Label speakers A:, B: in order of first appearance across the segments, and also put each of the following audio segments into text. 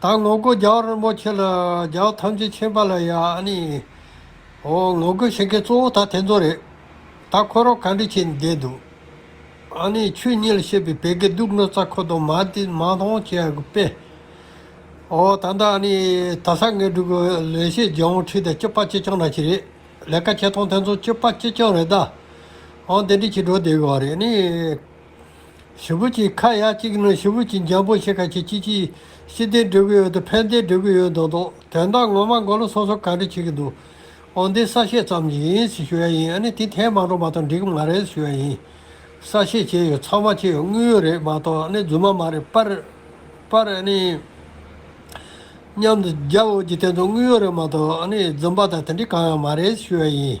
A: ད་ངོ་རྒོལ་རྒྱག་རིན་པོ་ཆེ་ལ་རྒྱག་ཐམས་ཅད་མཁྱེན་པ་ལ་ཡ་ནི། ཨོ་ངོ་རྒོལ་བྱེད་མཁན་གཙོ་བོ་ད་དེ་ཚོ་རེད། ད་ཁོ་རང་ག་འདྲི་བྱེད་ནས་བསྡད་འདུག་ཨ་ནི་ཆོས་ཉིད་ལ་བཤད་པའི་བད་གའི་དུག་སྣོད་རྩ་ཁོ་དང་མ་དེ་མ་མཐོང་བྱས་པས། ཨོ་ད་ད་ཨ་ནི་ད་ས་ངན་དྲུག་གི་ལས་བྱེད་རྒྱལ་བོང་ཁྲི་དང་སྐྱིད་པ་ཀྱེ་ཅང་ར་ཅི་རེད་ལས་ཀ་བྱེད་སྟངས་དེ་ཚོ་སྐྱིད་པ་ཀྱེ་ཅང་རེད་ད། ཨོ་འདི་འདྲི་བྱེད་འགྲོ་བསྡད་གི་བ་རེད་ནི། ཞི་བུ་ཅིག་ཁ་ཡག་ཅིག་ནི་ཞི་བུ་ཅིག་འཇམ་པོ་ཞིག་ག་ཁྱི་ཅི་ཅི། ཤི་བདེ་འགྲོ་གི་ཡོད་དུ་ཕན་བདེ་འགྲོ་གི་ཡོད་མདོག་མདོག་དོན་དག་ངོ་མ་མགོ་ལོ་སོ་སོ་ག་འདྲི་བྱེད་ཀྱི་འདུག་ཨོ་འདི་གསར་བཤད་ཙམ་གྱི་ཡིན་ཞེས་ཞུ་ཡ་ཡིན་ཨ་ནི་དེ་ཐེངས་མང་འགྲོ་མ་གཏོགས་འགྲིག་གི་མ་རེད་ཞུ་ཡ་ཡིན། གསར་བཤད་བྱས་ཡོད་ཚང་མ་བྱས་ཡོད་དངོས་ཡོད་རེད་མ་གཏོགས་ཨ་ནི་རྫུན་མ་མ་རེད་པར། པར་ཨ་ནི། མཉམ་དུ་རྒྱབ་འོས་ཀྱི་དེ་ཚོ་དངོས་ཡོད་རེད་མ་གཏོགས་ཨ་ནི་རྫུན་པ་དང་དེ་འདྲི་གང་ཡང་མ་རེད་ཞུ་ཡ་ཡིན།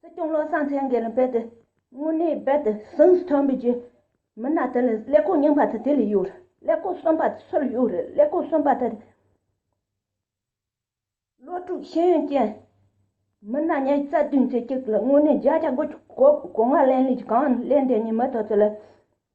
B: སྲིད་སྐྱོང་བློ་བཟང་སེང་གེ་ལ་རྦད་དེ་དངོས་གནས་རྦད་དེ་སེམས་སུ་ཐོན་པའི་རྗེས་མི་སྣ་དེ་ལས་ཀླད་ཀོ་རྙིང་པ་དེ་དེ་ལས་གཡོག་རེད་ཀླད་ཀོ་གསོན་པ་དེ་སུ་ལ་གཡོག་རེད་ཀླད་ཀོ་གསོན་པ་དེ་རེད། བློ་དྲུག་ཤེས་ཡོན་ཅན་མི་སྣ་ཉེར་རྩ་བདུན་ཚེ་གཅིག་ལ་དངོས་གནས་བརྒྱ་ཆ་དགུ་བཅུ་གོ་གོ་ང་གླེང་ལས་ཀྱི་གང་གླེང་དེ་གཉིས་མི་ཐོག་ཚེ་ལ་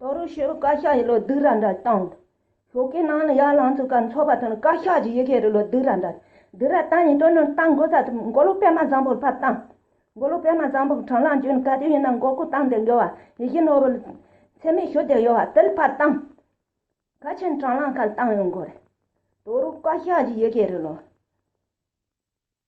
B: ཏོ་རུ་ཤི་རུ་བཀའ་ཤག་གི་ལོ་དུས་ར་འདྲ་བཏང་འདུག་ཤོག་གི་ནང་ལ་ཡར་ལངས་ཚུགས་ཀ་འཚོགས་པ་དང་བཀའ་ཤག་གི་ཡི་གེ་རུ་ལོ་དུས་ར་འདྲ་དུས་ར་བཏང་ནས་སྤྲོ་སྣུར་བཏང་དགོས་ས་དེ་མགོ་ལོག་པད་མ་བཟང་པོར་ཕར་བཏང། མགོ་ལོག་པད་མ་བཟང་པོ་གྲངས་ལངས་བྱུས་ནས་ག་དུས་ཡིན་ན་མགོ་སྐོར་བཏང་སྟེ་འགྲོ་བ་ཡི་གེ་ནོར་བུ་ལ་འཚེ་མེད་ཞུ་བདེ་ཡོད་བ་དེར་ཕར་བཏང། ག་ཕྱིན་གྲངས་ལངས་ཁ་ལ་བཏང་ཡོད་མགོ་རེད། ཏོ་རུ་བཀའ་ཤག་གི་ཡི་གེ་རུ་ལོ།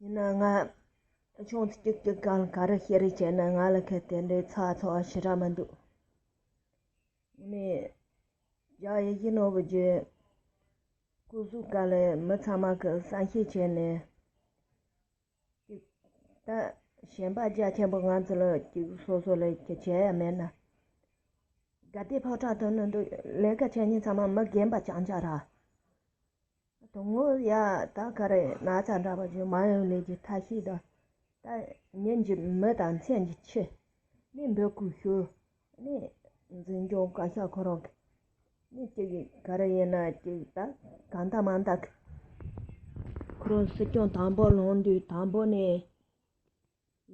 B: ཡིན་ན་ང། ཆུང་དུས་སྐྱུག་སྐྱུག་གང་ག་རེ་ཤི་རེ་བྱས་ན་ང་ལ་ཁད་དེ་འདྲའི་ཚ་ཚ་བ་ཞི་ར་མི་འདུག། ངས་རྒྱ་ཡི་ཡིད་ནོར་བུ་རྒྱུད། སྐུ་གཟུགས་དཀར་ལས་མི་ཚང་མ་གི་བསམ་ཤེས་བྱས་ནས། སྐྱུག། ད་གཞན་པ་རྒྱ་ཆེན་པོ་ང་ཚོ་ལ་སྐྱུག་སོ་སོ་ལས་ཀྱི་བྱས་ཡ་མེད་ན། དགའ་བདེའི་ཕོ་བྲང་དུ་ནི་འདུག་ལས་ཀ་བྱེད་མྱི་ཚང་མ་མི་རྒན་པ་བྱང་ཆ་ར། དང་ངོ་ཡ་ད་ག་རེ་ན་ཚ་འདྲ་བ་ཞིག་མ་ཡོང་ལས་ཀྱི་ཐ་ཤིས་དང། ད་ཉིན་གྱི་མི་དང་མཚན་གྱི་ཁྱི། ནས་འབོད་སྐུལ་ཞུ། ནས་འཛིན་སྐྱོང་བཀའ་ཤག་ཁོ་རང་གི། ནས་ཅིག་ག་རེ་ཡིན་ན་ཅིག་ད་ག་འདའ་མ་འདའ་གི། ཁོ་རང་སྲིད་སྐྱོང་དང་པོ་ལངས་དུས་དང་པོ་ནས།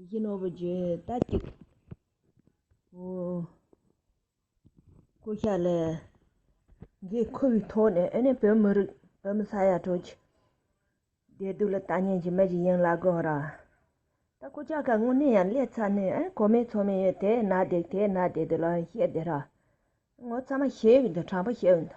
B: བཞི་ནོར་བུ་བརྗོད་ད་གཅིག། ཧོ། ཀུ་ཤ་ལའི། འགའི་ཁུ་བའི་ཐོག་ནས་ཨེ་ནས་བོད་མི་རིགས་བོད་མི་ས་ཡ་དྲུག་གི། བདེ་སྡུག་ལ་ལྟ་ཉན་གྱི་མི་ཞིག་ཡིན་ལ་དགོས་ར། ད་ཀུ་ཅག་ག་དངོས་གནས་ཡང་ལས་ཚ་ནས་ཨེ་གོ་མེད་ཚོ་མེད་ཡོད་དེ་ན་བསྡད་དེ་ན་བསྡད་དེ་ལ་ཡང་བཤད་བསྡད་ར། ངོ་ཚ་མ་ཤེས་འོད་འདི་དྲང་པོ་བཤད་འོད་འདི།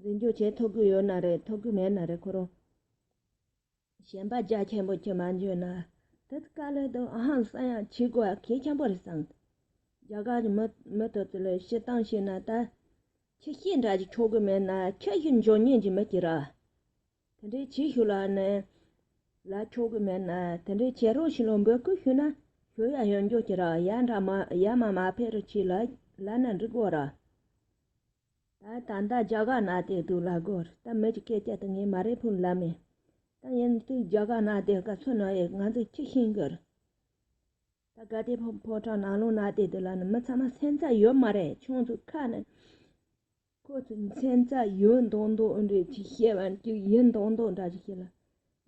B: འཛིན་རྒྱུ་བྱེད་ཐུབ་ཀྱི་ཡོད་ན་རེད་ཐུབ་ཀྱི་མེད་ན་རེད་ཁོ་རང་གཞན་པ་རྒྱ་ཆེན་པོ་ཁྱོད་མ་འཇོན་ན་དེ་ལྟར་བཀའ་ལོས་དང་ཧང་སངས་ཡང་བྱེད་དགོས་པ་གལ་ཆེན་པོ་རེད་བསམ། རྒྱ་གར་གྱི་མི་མི་དེ་ཚོ་ལ་བཤད་སྟངས་ཤེས་ན་ད་ཁྱི་ཤི་འདྲ་ཞིག་ཆོག་གི་མེད་ན་ཁྱི་ཤི་འཇོན་ཉན་གྱི་མི་ཀྱི་ར། དེ་འདྲའི་བྱེད་ཤུགས་ལ་ནི་ལ་ཆོག་གི་མེད་ན་དེ་འདྲའི་བྱེད་རོགས་ཤིག་ལ་འབོད་སྐུལ་ཞུས་ན་ཞུ་ཡ་ཡོད་འཇོན་གྱི་ར་ཡ་འདྲ་མ་ཡ་མ་མ་ཕེ་རུ་ཆིག་ལ་ལ་ནི་འགྲིག་གོ་ར། ད་ད་ད་རྒྱ་གར་ནག་དེ་དུག་ལ་རྒོལ་ད་མི་གཅིག་སྐད་བསྐྱལ་ཏུ་ངས་མ་རེད་ཕུང་ལབ་མེད་ད་ཡིན་དུས་རྒྱ་གར་ནག་དེ་ག་ཚོད་ནང་ཡོད་ང་ཚོ་ཁྱི་ཤིང་གི་ད་ག་དེ་ཕོ་ཕོ་བྲང་ནག་ལུང་ནག་དེ་དུ་ལ་ནི་མི་ཚང་མ་སེམས་ཚ་ཡོད་མ་རེད་ཁྱོད་ཚོ་ཁ་ནི་ཁོ་ཚོ་སེམས་ཚ་ཡོད་མདོག་མདོག་འདྲ་ཅིག་བཤད་པ་ཅིག་ཡིན་མདོག་མདོག་འདྲ་ཅིག་བཤད་ལ་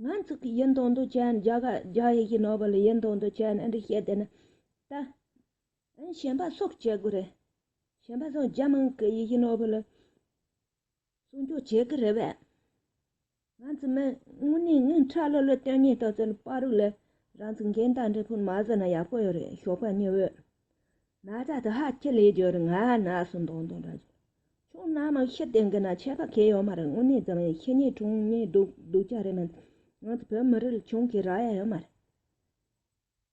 B: ང་ཚོ་གི་ཡིན་མདོག་མདོག་བྱས་ནས་རྒྱ་གར་རྒྱ་ཡི་ཡི་ནོར་བ་ལ་ཡིན་མདོག་མདོག་བྱས་ནས་འདྲ་བཤད་དེ་ན་ད། གཞན་པ་སོགས་བྱེད་དགོས་རེད། གཞན་པ་སོགས་རྒྱ་དམངས་ཀྱི་ཡི་གེ་ནོར་བུ་ལ་སྲུང་སྐྱོབ་བྱེད་ཀྱི་རེད་བས། ང་ཚོ་མི་དངོས་གནས་ངའི་ཁྲ་ལོ་ལོ་སྟོན་ཉིན་ཏོག་ཙེ་ལ་པར་རིགས་ལ་རང་ཚུགས་འགན་བདག་འབྲས་ཕུན་མ་བཟོས་ན་ཡག་པོ་ཡོད་རེད་ཞོགས་པ་ཉི་འོད་ན་བཟའ་དེ་ཧ་ཁྱི་ལས་འགྱོད་རེད་ང་ན་ཟུག་མདོག་མདོག་འདྲ་བྱུང་ཁྱོད་རྣམས་མི་ཤི་དེ་འགི་ན་ཆད་པ་གས་ཡོད་མ་རེད་དངོས་གནས་འཛམ་གླིང་ཤི་ཉེས་གྲོངས་ཉེས་སྡུག་སྡུག་ཅག་རེད་མི་འདུག་ང་ཚོ་བོད་མི་རིགས་ལ་བྱུང་ཁའི་རག་ཡ་ཡོད་མ་རེད།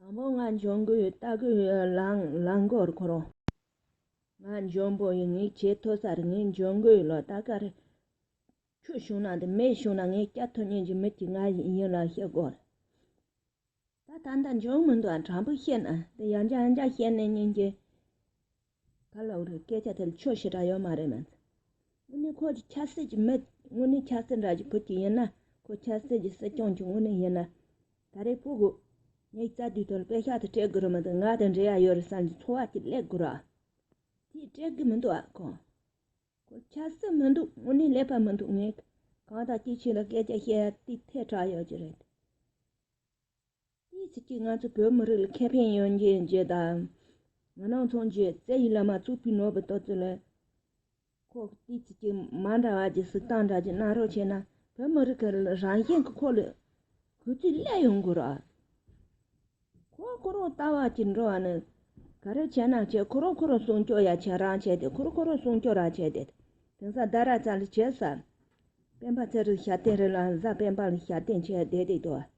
B: དང་པོ་ང་འབྱུང་པོའི་ལྟ་སྒོའི་རླངས་འཁོར་འཁོར་རོ། ང་འབྱུང་པོ་ཡི་ངའི་ཆེས་མཐོ་སར་ངའི་འབྱུང་པོའི་ལོ་ད་གར་ཆུ་བྱུང་ན་འདི་མེ་བྱུང་ན་ངའི་སྐྱ་ཐོ་གཉན་གྱི་མི་གཅིག་ང་ཡིན་ལ་ཤི་དགོས་རེད། ད་ད་ལྟ་འབྱུང་མི་འདུག་དྲང་པོ་བཤད་ན་འདི་ཡང་འཇའ་འཇའ་བཤད་ནས་ཉིན་གཅིག་ག་ལ་འོས་སྐད་ཆ་དེར་ཆོས་ཞེ་དྲག་ཡོད་མ་རེད་མ་ཚད། དངོས་གནས་ཁོ་ཆ་སྲིད་ཀྱི་མི་དངོས་གནས་ཆ་སྲིད་འདྲ་ཞིག་ཕུད་ཀྱི་ཡིན་ན་ཁོ་ཆ་སྲིད་ཀྱི་སྲིད་སྐྱོང་གི་དངོས་གནས་ཡིན་ན་ད་རེས་ཕུད་དགོས། ངས་རྩ་དུས་ཐོག་སྐད་ཤག་ཏུ་སྤྲད་དགོས་རེད་མི་འདུག་ང་དང་འབྲེལ་ཡ་ཡོད་རེད་བསམ་གྱི་འཚོ་བ་གཅིག་ལེགས་དགོས་ར་དེས་སྤྲད་དགོས་མི་འདུག་ཨ་ཁོ། ཁོ་ཆ་སྲིད་མི་འདུག་དངོས་གནས་ལེགས་པ་མི་འདུག་ངས་གང་དག་ཅི་བྱས་ལ་སྐད་ཆ་བཤད་ཡ་དེའི་ཐད་དྲག་ཡོད་ཀྱི་རེད། དེའི་ཚིག་གིས་ང་ཚོ་བོད་མི་རིགས་ལ་ཁེ་ཕན་ཡོང་རྒྱུའི་རྗེས་ཟློས་དང། ང་ནང་ཚོང་རྒྱུ་རྩལ་ཡིག་ལ་མ་བཙུགས་པའི་ནོར་བུ་ལྟ་ཚུལ་ལས། ཁོག་དེའི་ཚིག་གིས་མ་འདྲ་བ་ཀྱི་གཟིགས་སྟངས་འདྲ་གྱི་གནའ་རོགས་བྱས་ན་བོད་མི་རིགས་ཀྱི་རང་གཞན་གྱི་ཁོག་ལ་གུས་བརྩི་སླད་ཡོང་དགོས་རོགས། ཁོ་རང་ཁོ་རང་ལྟ་བ་གཅིག་འགྲོ་བ་ནི། ག་རེ་བྱས་ན་བྱས་ཁོ་རང་ཁོ་རང་སྲུང་སྐྱོབ་ཡ་བྱས་རང་བྱས་ཏེ་ཁོ་རང་ཁོ་རང་སྲུང་སྐྱོབ་རང་བྱས་ཏེ། དེང་སང་རྡ་ར་ཙལ་ལ་བྱས་ས། སྤེན་པ་ཚེ་རིང་ཞབས་བརྟན་རི་ལ་བཟའ་སྤེན་པ་ལ་ཞབས་བརྟན་བྱས་བསྡད་བསྡད་དོ།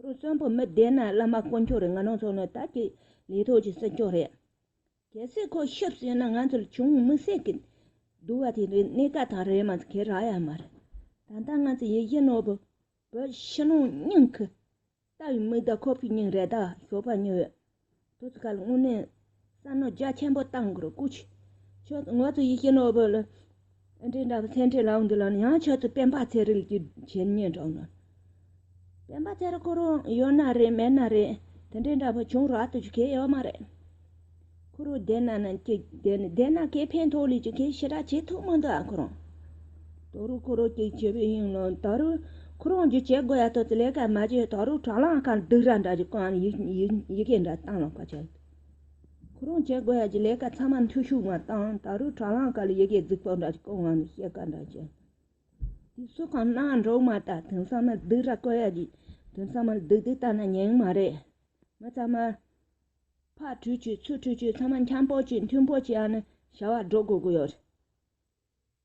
B: ཁོང་གསོན་པོ་མི་བདེ་ན་བླ་མ་དཀོན་མཆོག་རེད་ང་ནང་ཚོགས་ནི་ད་ཀྱི་ལས་ཐོག་གྱི་སྲིད་སྐྱོང་རེད། གལ་སྲིད་ཁོ་ཤི་ཟིན་ན་ང་ཚོར་ཆུང་ངུ་མི་སེར་གྱི་འདུལ་བ་དེ་འདྲའི་གནད་འགག་དང་རེད་མ་ཚད་ཁེར་རག་ཡ་མ་རེད། ད་ལྟ་ང་ཚོ་ཡི་ཤི་ནོར་བུ་བོད་ཕྱི་ནང་སྙིང་ཁུ་ལྟ་བུའི་མིག་ཟླ་ཁོ་བོའི་སྙིང་རེ་ད་ཞོགས་པ་ཉི་འོད་དུས་སྐབས་སྔོན་མའི་བསམ་བློ་རྒྱ་ཆེན་པོ་བཏང་དགོས་སྐུ་ཆེ་མཆོག་ངོ་ཚོ་ཡིད་ཀྱི་ནོར་བུ་ལ་འདྲེ་འདྲ་བ་ཚེ་འཕྲེང་ལགས་འདི་ལ་ཡང་ཆེད་དུ་སྤེན་པ་ཚེ་རིང་གི་བྱས་ཉེས་འདྲ་བོ་ལ་སྤེན་པ་ཚེ་རིང་ཁོ་རང་ཡོད་ན་རེད་མེད་ན་རེད་དེ་འདྲེ་འདྲ་བོ་བྱུང་རག་ཏུ་རྒྱུ་ཁེ་ཡོད་མ་རེད། ཁོ་རང་བསྡད་ན་ནང་སྐྱིད་བསྡད་ན་བསྡད་ན་ཁེ་ཕན་ཐོག་ལས་རྒྱུ་ཁེ་ཞེ་དྲག་བྱེད་ཐུབ་མི་འདུག་ཨ་ཁོ་རང། ད་རུང་ཁོ་རང་གིས་བྱས་པའི་ཡིན་ནམ་ད་རུང་ཁོ་རང་གིས་བྱེད་དགོས་ཡ་ཐོག་ཏུ་ལས་ཀ་མ་བྱས་ད་རུང་དྲ་ལམ་ཁར་སྡུག་ར་འདྲ་ཞིག་བཀང་ནས་ཡི་གེ་འདྲ་བཏང་ལ་བཀའ་བྱས། ཁོ་རང་བྱེད་དགོས་ཡ་གྱི་ལས་ཀ་ཚང་མ་འཐུས་ཤོར་བ་དང་ད་རུང་དྲ་ལམ་ཁར་ཡི་གེ་རྫིག་པོ་འདྲ་ཞིག་བཀང་ནས་བཤད་ཀ་འདྲ་བྱས། དེ་སུ་གང་ན་འགྲོ་མ་ཐག་དེང་སང་མི་སྡུག་ར་བཀོལ་ཡ་གྱི་དེང་སང་མི་སྡུག་སྡུག་བཏང་ན་ཉེན་མ་རེད། མི་ཚང་མ་ཕ་ཁྲུས་ཆུ་ཚུ་ཁྲུས་ཆུ་ཚང་མ་འཁྱམ་པོ་གྱིས་མཐུན་པོ་བྱས་ནས་བྱ་བ་སྒྲོག་དགོས་ཀྱི་ཡོད་རེད།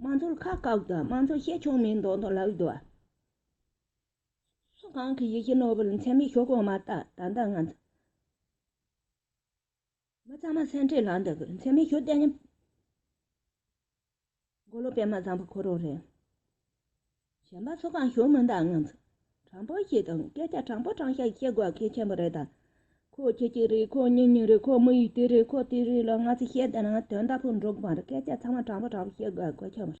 B: དམངས་གཙོར་ཁག་བཀག་དང་དམངས་གཙོ་བཤད་ཕྱོགས་མིན་མདོག་མདོག་ལབ་ཡོད། སུ་གང་གི་ཡིད་ཀྱི་ནོར་བུར་མཚན་མེད་ཞོག་གོང་མ་ལྟར་ད་ལྟ་ང་ཚོ། མི་གཙང་མ་སེར་འཕྲེང་ལག་འདི་གི་མཚན་མེད་ཞོག་བསྟན། མགོ་ལོག་པད་མ་བཟང་པོ་ཁོ་རང་རེད། གཞན་པ་ཚོ་གང་བྱུང་མི་འདང་ངམ། དྲང་པོ་ཞིག་དང་སྐད་ཆ་དྲང་པོ་དྲང་ཞག་བཤད་དགོས་གལ་ཆེན་པོ་རེད་ད། ཁོ་ཁྱེད་ཀྱི་རེད་ཁོ་གཉིས་གཉིས་རེད་ཁོ་མི་ཡི་དེ་རེད་ཁོ་དེ་རེད་ལ་ང་ཚོས་བཤད་དེ་ན་དོན་དག་པོ་འགྲུབ་མ་རེད་སྐད་ཆ་ཚང་མ་དྲང་པོ་དྲང་པོ་བཤད་དགོས་གལ་ཆེན་པོ་རེད།